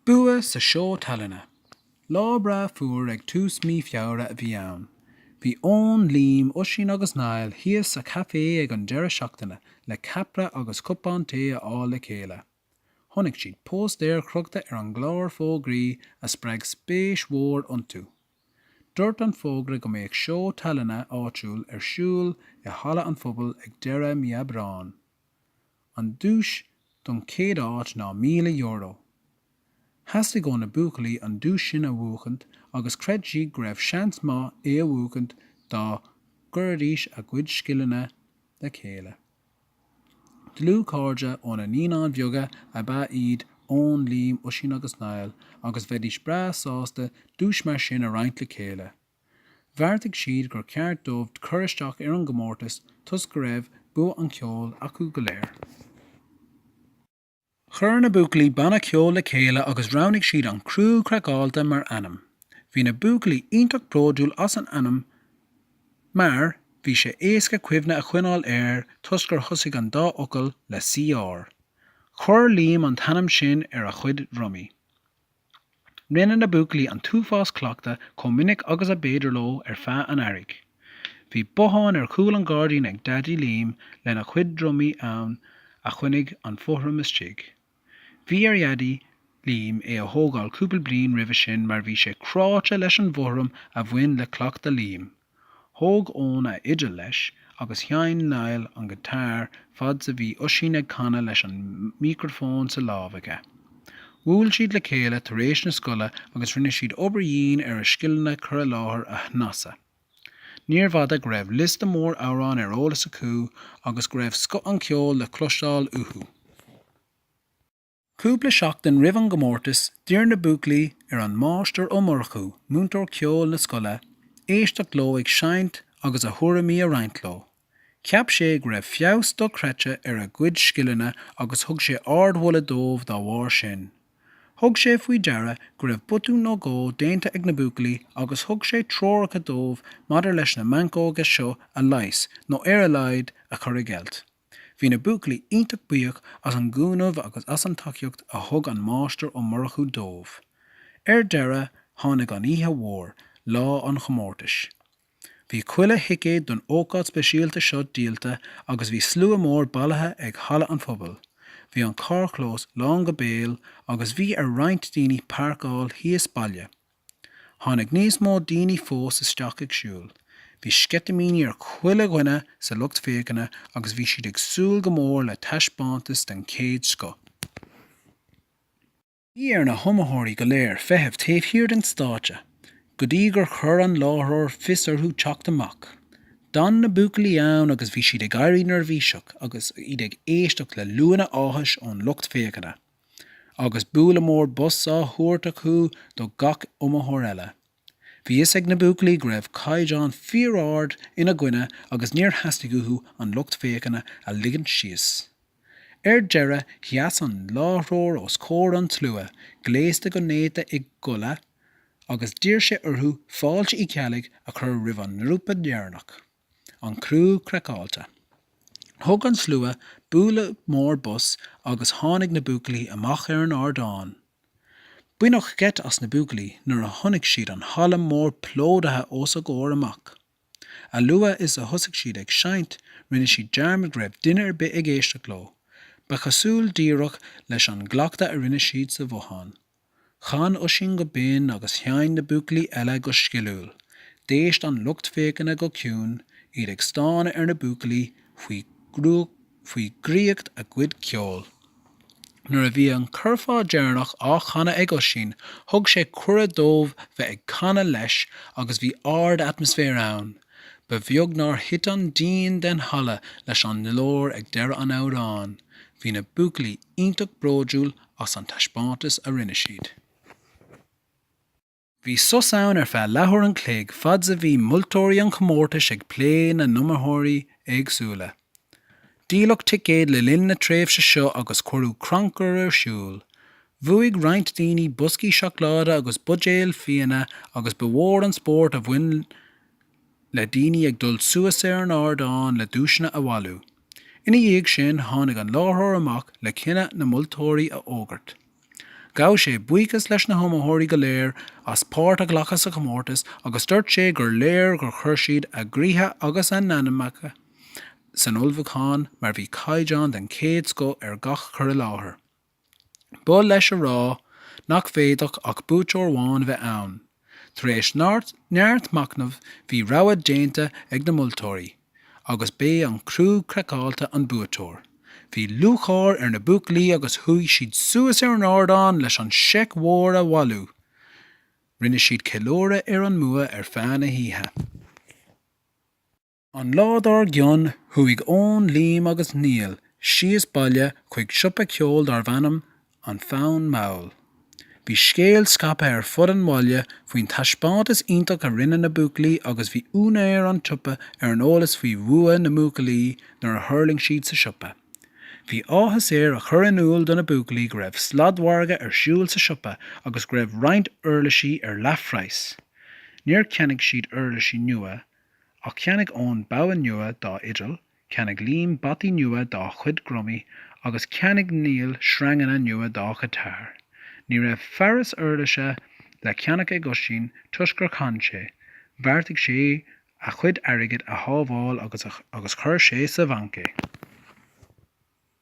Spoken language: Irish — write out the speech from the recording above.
Bua sa Seó Tallainne. Lá breá fuar ag tús mí Feabhra a bhí ann. Bhí Eoin, Liam, Oisín agus Niall thíos sa chaifé ag an deireadh seachtaine le ceapaire agus cupán tae a fháil le chéile. Chonaic siad póstaer crochta ar an gclár fógraí a spreag spéis mhór iontu. Dúirt an fógra go mbeadh seó tallainne áitiúil ar siúl i Halla an Phobail ag deireadh mí Aibreáin. An duais don chéad áit ná €1,000. Theastaigh ó na buachaillí an duais sin a bhuachaint agus chreid siad go raibh seans maith é a bhuachaint dá gcuiridís a gcuid scileanna le chéile. Dlúthchairde ó na Naíonáin Bheaga ab ea iad Eoin, Liam, Oisín agus Niall agus bheidís breá sásta duais mar sin a roinnt le chéile. Bheartaigh siad gur ceart dóibh cur isteach ar an gcomórtas toisc go raibh bua an cheoil acu go léir. Chuir na buachaillí banna ceoil le chéile agus roghnaigh siad An Criú Craiceáilte mar ainm. Bhí na buachaillí iontach bródúil as an ainm mar bhí sé éasca cuimhne a choinneáil air toisc gur thosaigh an dá fhocal le CR. Chuir Liam an t-ainm sin ar a chuid drumaí. Rinne na buachaillí an t-uafás cleachta chomh minic agus a b'fhéidir leo ar feadh an earraigh. Bhí bothán ar chúl an ghairdín ag Daidí Liam lena chuid drumaí ann a choinnigh an fothram istigh. Bhí ar Dhaidí Liam é a thógáil cúpla bliain roimhe sin mar bhí sé cráite leis an bhfothram a bhain le cleachta Liam. Thóg Eoin a fhidil leis agus sheinn Niall an giotár fad 's a bhí Oisín ag canadh leis an mícreafón sa lámh aige. Bhuail siad le chéile tar éis na scoile agus rinne siad obair dhian ar a scileanna cur i láthair a shnasadh. Níorbh fhada go raibh liosta mór amhrán ar eolas acu agus go raibh scoth an cheoil le cloisteáil uathu. Cúpla seachtain roimh an gcomórtas, d'iarr na buachaillí ar an Máistir Ó Murchú, múinteoir ceoil na scoile, éisteacht leo ag seinnt agus a thuairimí a roinnt leo. Cheap sé go raibh feabhas dochreidte ar a gcuid scileanna agus thug sé ardmholadh dóibh dá bharr sin. Thug sé faoi deara go raibh botún nó dhó déanta ag na buachaillí agus thug sé treoracha dóibh maidir leis na meancóga seo a leigheas nó ar a laghad a chur i gceilt. Bhí na buachaillí iontach buíoch as an gcúnamh agus as an tacaíocht a thug an Máistir Ó Murchú dóibh. Ar deireadh, tháinig an oíche mhór, lá an chomórtais. Bhí chuile thicéad don ócáid speisialta seo díolta agus bhí slua mór bailithe ag Halla an Phobail. Bhí an carrchlós lán go béal agus bhí ar roinnt daoine páirceáil thíos baile. Tháinig níos mó daoine fós isteach ag siúl. Bhí sceitimíní ar chuile dhuine sa lucht féachana agus bhí siad ag súil go mór le taispeántas den chéad scoth. Bhí ar na hiomaitheoirí go léir feitheamh taobh thiar den stáitse go dtí gur chuir an láithreoir fios orthu teacht amach. D'fhan na buachaillí ann agus bhí siad ag éirí neirbhíseach agus iad ag éisteacht le liúanna áthais ón lucht féachana. agus bualadh mór bos á thabhairt acu do gach iomaitheoir eile. Bhí fhios ag na buachaillí go raibh caighdeán fíor-ard ina gcoinne agus níor theastaigh uathu an lucht féachana a ligint síos. Ar deireadh sheas an láithreoir os comhair an tslua, gléasta go néata i gculaith, agus d'iarr sé orthu fáilte Uí Cheallaigh a chur roimh an ngrúpa dheireanach. An Crú Craiceáilte. Thug an slua bualadh mór bos agus tháinig na buachaillí amach ar an ardán. Baineadh geit as na buachaillí nuair a chonaic siad an halla mór plódaithe os a gcomhair amach. A luaithe is a thosaigh siad ag seinnt, rinne siad dearmad go raibh duine ar bith ag éisteacht leo. Ba chosúil díreach leis an gcleachtadh a rinne siad sa bhothán. Chan Oisín go binn agus sheinn na buachaillí eile go sciliúil. D'éist an lucht féachana go ciúin, iad ag stánadh ar na buachaillí faoi dhraíocht a gcuid ceoil. Nuair a bhí an curfá deireanach á chanadh ag Oisín, thug sé cuireadh dóibh bheith ag canadh leis agus bhí ardatmaisféar ann. Ba bheag nár thit an díon den halla leis an nglór ag deireadh an amhráin. Bhí na buachaillí iontach bródúil as an taispeántas a rinne siad. Bhí sos ann ar feadh leathuair an chloig fad's a bhí moltóirí an chomórtais ag plé na n-iomaitheoirí éagsúla. Díoladh ticéid le linn na tréimhse seo agus cuireadh crannchur ar siúl. Bhuaigh roinnt daoine boscaí seacláide agus buidéil fíona agus ba mhór an spórt a bhain. le daoine ag dul suas ar an ardán le duaiseanna a bhailiú. Ina dhiaidh sin tháinig an láithreoir amach le cinneadh na moltóirí a fhógairt. Ghabh sé buíochas leis na hiomaitheoirí go léir as páirt a ghlacadh sa chomórtas agus dúirt sé gur léir gur chuir siad a gcroíthe agus a n-anamacha san ullmhúchán mar bhí caighdeán den chéad scoth ar gach cur i láthair. B'oth leis a rá nach bhféadfadh ach buaiteoir amháin a bheith ann. Tar éis neart machnaimh bhí rogha déanta ag na moltóirí agus b'é An Crú Craiceáilte an buaiteoir. Bhí lúcháir ar na buachaillí agus chuaigh siad suas ar an ardán leis an seic mhór a bhailiú. Rinne siad ceiliúradh ar an mbua ar feadh na hoíche. An lá dár gcionn, chuaigh Eoin, Liam agus Niall síos baile chuig siopa ceoil darbh ainm An Fonn Mall. Bhí scéal scaipthe ar fud an bhaile faoin taispeántas iontach a rinne na buachaillí agus bhí úinéir an tsiopa ar an eolas faoi bhua na mbuachaillí nuair a thuirling siad sa siopa. Bhí áthas air a chur in iúl do na buachaillí go raibh sladmhargadh ar siúl sa siopa agus go raibh roinnt uirlisí ar leathphraghas. Níor cheannaigh siad uirlisí nua Ach cheannaigh Eoin bogha nua dá fhidil, cheannaigh Liam bataí nua dá chuid drumaí, agus cheannaigh Niall sreanganna nua dá ghiotár. Ní raibh fearas uirlise le ceannach ag Oisín toisc gur chan sé, bheartaigh sé a chuid airgid a shábháil agus chuir sé sa bhanc é.